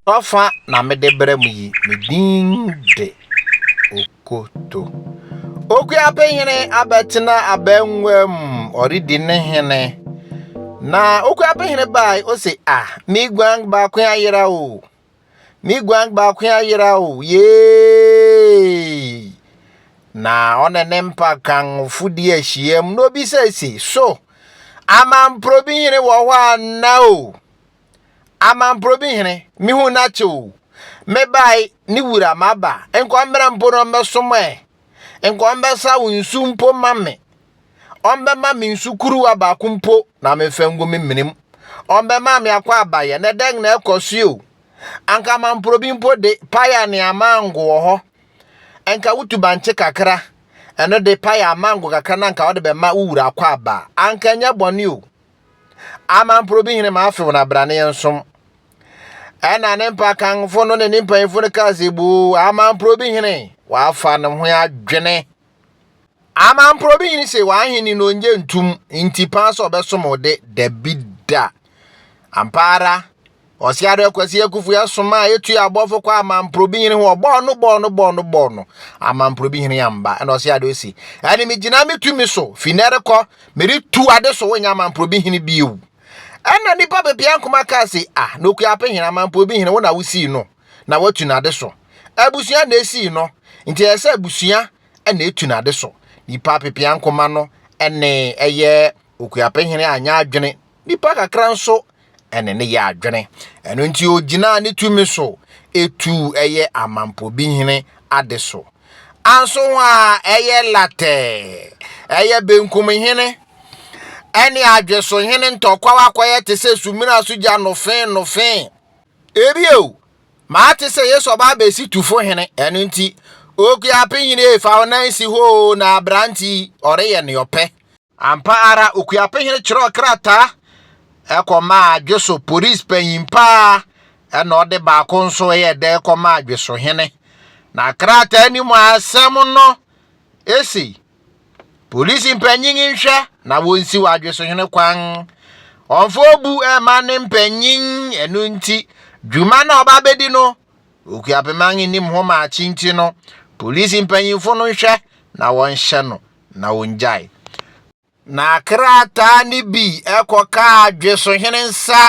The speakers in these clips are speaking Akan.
W'afa na mede brɛ mo yi, me din de Okoto. Okuapehene abɛtena abangua mu, ɔredi ne hene. Na Okuapehene bae, ose, ah, me guan baako ayera o. Me guan baako ayera o, yee! Na ɔne ne mpa kanfo di ahyiam na obisa se, So amanporobi hene wɔ hɔ anna o? Amanporobi hene, mehu n'akyɛ o. Mebae ne wura maba, nkɔmmra mpo na ɔmmɛsom ɛ. Nkɔmmɛsa wo nsu mpo ma me. ɔmbɛma me nsu kuruwa baako mpo na mefa ngu me menem. Ɔmbɛma me akɔ abayɛ, na dɛn na ɛkɔ so o? Anka mamporobi mpo de, pae a nea mango wɔ hɔ. Ɛnka wotu bankye kakra, ɛno de pae a mango kakra na anka ɔde bɛma wo wura akɔ aba. Anka ɛnyɛ bɔne o. Amamporobi hene ma afew na bra ne yɛn som. Ɛna ne mpakanfo no ne ne mpanyimfo no kaa sɛ boo, amamporobi hene, wafa ne ho adwene. Amampro bi nyini se w'ahenni no onnye ntum nti paa sɛ ɔbɛsom wo de, dabi da. Ampa ara, Ɔseado Akwasi Akufo yɛ soma a etu abɔfo kɔ Amampro bi nyini ho ɔbɔɔ no bɔɔ no bɔɔ no bɔɔ no. Amampro bi hene amba. Ɛna Ɔseado se, ɛne me gyina me tumi so, fi nɛ rekɔ, mede tu ade so wonyɛ Amampro bi hene bio. Ɛna nipa pepea nkoma kaa se, ah, Nokuape hene, Amampro bi hene, wo na wosii no. na watu n'ade so. Abusua na esii no, nti ɛyɛ sɛ abusua na etu n'ade so. Nipa apepeankoma no ne ɛyɛ Okuapehene anyɛ adwene, nipa kakra nso ne ne yɛ adwene. Ɛno nti ogyinaa ne tumi so etu ɛyɛ Amampɔbi hene ade so. Anso ho a ɛyɛ latɛɛ, ɛyɛ benkum hene ɛne adweso hene ntɔkwaw akɔyɛ te sɛ sumina so gya nofee nofee. Ebio, mate sɛ Yesu ɔba abɛsi tufo hene, ɛno nti, Okuape hene efa wo nan si hɔ oo na aberante yi ɔreyɛ ne ɔpɛ. Ampa ara, Okuape hene kyerɛw krataa ɛkɔmaa Adweso polis panyin paa ɛna ɔde baako nso ɛyɛ dɛ kɔmaa Adweso hene. Na krataa no mu asɛm no ese. Polisi mpanyin nhwɛ na wonsiw adwesohene kwan. Ɔmfa obu mma ne mpanyin, ɛno nti dwuma no a ɔba bedi no, Okuapemang nnim ho ma akyi nti no, polisi mpanyimfo no nhwɛ na wɔnhyɛ no na ongyae. Na krataa no bi kɔkaa adwesohene nsa,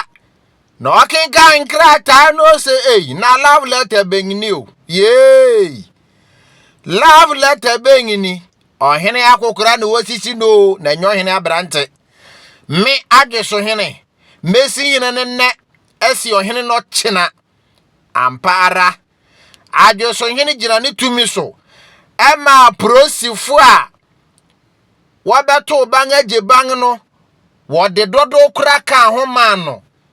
na ɔkenkan nkrataa no ose ei, na love letter bɛn ni o, yeei! Love letter bɛn ni? Ɔhene akokora na wɔsisi no o, na ɛnyɛ ɔhene aberante. Me adweso hene, mɛsi hene no nnɛ, asi ɔhene no kyena. Ampa ara, adweso hene gyina ne tumi so, ɛma aporisifo a wɔbɛtow ban agye ban no, wɔde dodow kora kaa ho maa no.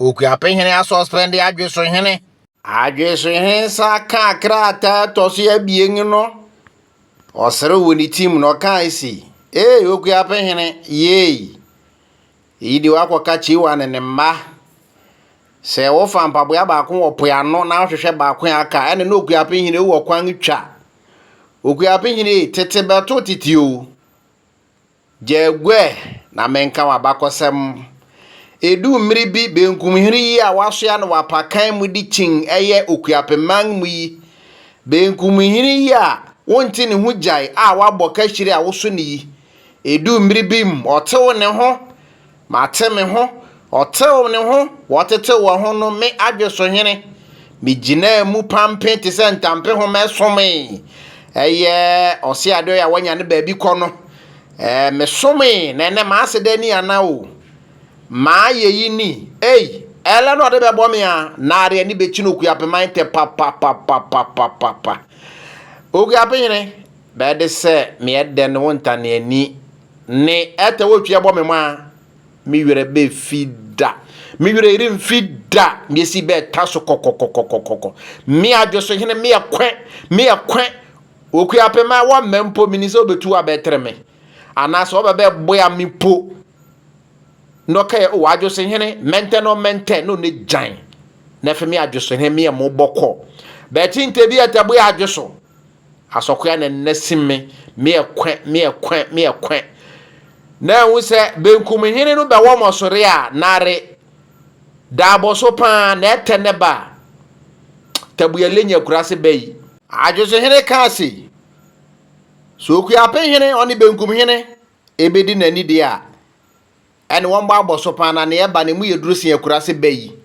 Okuape hene asɔspɛnde Adweso hene. Adweso hene sa kaa krataa ɛtɔ so abien no. Ɔsere wɔ ne tim na ɔkaa esi, Ee, Okuape hene, yei. Eyi de wakɔka Kyiwa ne ne mma. Sɛ wofa mpaboa baako wɔ po ano na wohwehwɛ baako a aka, ɛne na Okuape hene wɔ kwan twa. Okuape hene, tete bɛto tete o. Gyagua ɛ, na menka w'abakɔsɛm. Edu mmere bi, benkumhini yi a wasoa no w'apakan mu de kyin ɛyɛ Okuapeman mu yi, benkumhini yi a wonte ne ho gyae a wabɔ kahyire a woso ne yi, edu mmere bi mu, ɔtew ne ho, Mate me ho, ɔtew ne ho, wɔtetew wɔn ho no me adwe so hene. Migyinaa mu pampe te sɛ ntampehoma ɛsomee. Ɛyɛ ɔseadoe a wɔanya ne baabi kɔ no. Ɛɛ, mesomee, na ɛnɛ m'ase dɛ ni ana o. M'ayeyi ni, ei, ɛlɛ na ɔde bɛbɔ me a, naare ani bekyi no Okuapema ntɛ papapapapapapa. Okuapehene, bɛde sɛ meɛ dɛn wo ntaneani, Ne ɛtɛ wotwi ɛbɔ me maa. Me werɛ bɛfi da. Me werɛ remfi da. Miesi bɛta so kɔkɔkɔkɔkɔkɔ. Me adwe so hene me ɛkwɛ me ɛkwɛ. Okua pema wɔ mɛ mpo mini sɛ obetu abɛtere me. Anaasɛ ɔbɛ bɛ boya me mpo. Nɔka yɛ o adwe so hene mɛntɛ no mɛntɛ no ne gyan. Nɛfe me adwe so hene me ɛmo bɔkɔ. Bɛte ntɛ bi ɛtɛ boya adwe so. Asɔkoa na nnɛ sim me, me ɛkwɛ, me ɛkwɛ, me ɛkwɛ. Na ɛhu sɛ benkum hene no bɛwɔ mɔsore a, nare, da abɔ so paa, na ɛtɛ ne ba, tabuya lenyi akurase bɛ yi. Adwoso hene kaa sei, Sɛ okuape hene, ɔne benkum hene, ebedi n'ani deɛ a, ɛne wɔn bɔ abɔ so paa, na nea ɛba no, emu yɛ duru sen akurase bɛ yi.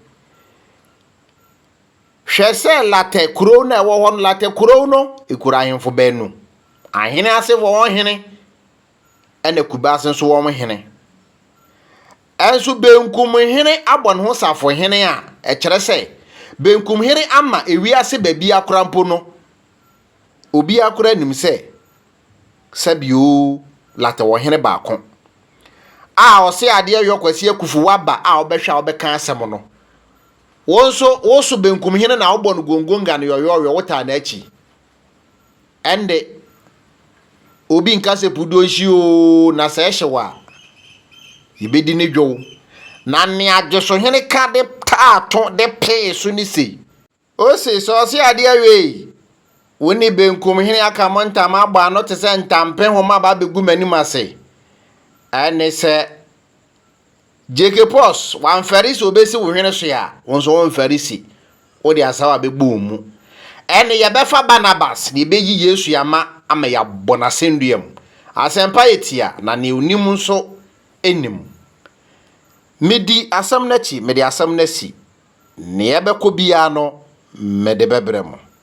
Hwɛ sɛ Latɛ kurow no a ɛwɔ hɔ no, Latɛ kurow no, ekura ahemfo baanu, ahene asefo wɔn hene, ɛna Kubase nso wɔn hene. Ɛnso benkum hene abɔ ne ho safohene a, ɛkyerɛ sɛ benkum hene ama ewiase baabi akora mpo no, obi akora nim sɛ sɛbio Latɛ wɔ hene baako a ɔse adeɛ yɔ Kwasi Akufu waba a ɔbɛhwɛ a ɔbɛka asɛm no. Wo nso, woso benkum hene na wobɔ no gongonga no yɔyɔɔyɔ, wotaa n'akyi. Ɛnde, obi nka sɛ pudo nhyi oo, na sɛ ɛhye wɔ a, yɛbɛdi ne dwow. Na nea adwosohene ka de taa to de pee so ne sei. Ose, sɛ ɔse adeɛ awiei, wo ne benkum hene aka mo ntam abɔ ano te sɛ ntampehoma aba abɛgu m'anim ase. Ɛne sɛ Gyeke pɔs, wamfɛre si obesi wo hwene so a, wo nso womfɛre si wode asaw a bɛbɔ wo mu. Ɛnne yɛbɛfa Barnabas na yɛbɛyi Yesu ama ama yɛabɔ no asɛnnua mu. Asɛmpa yɛ tia na nea onim nso nim. Medi asɛm no akyi, mede asɛm no asi. Nea ɛbɛkɔ biara no mede bɛbrɛ mo.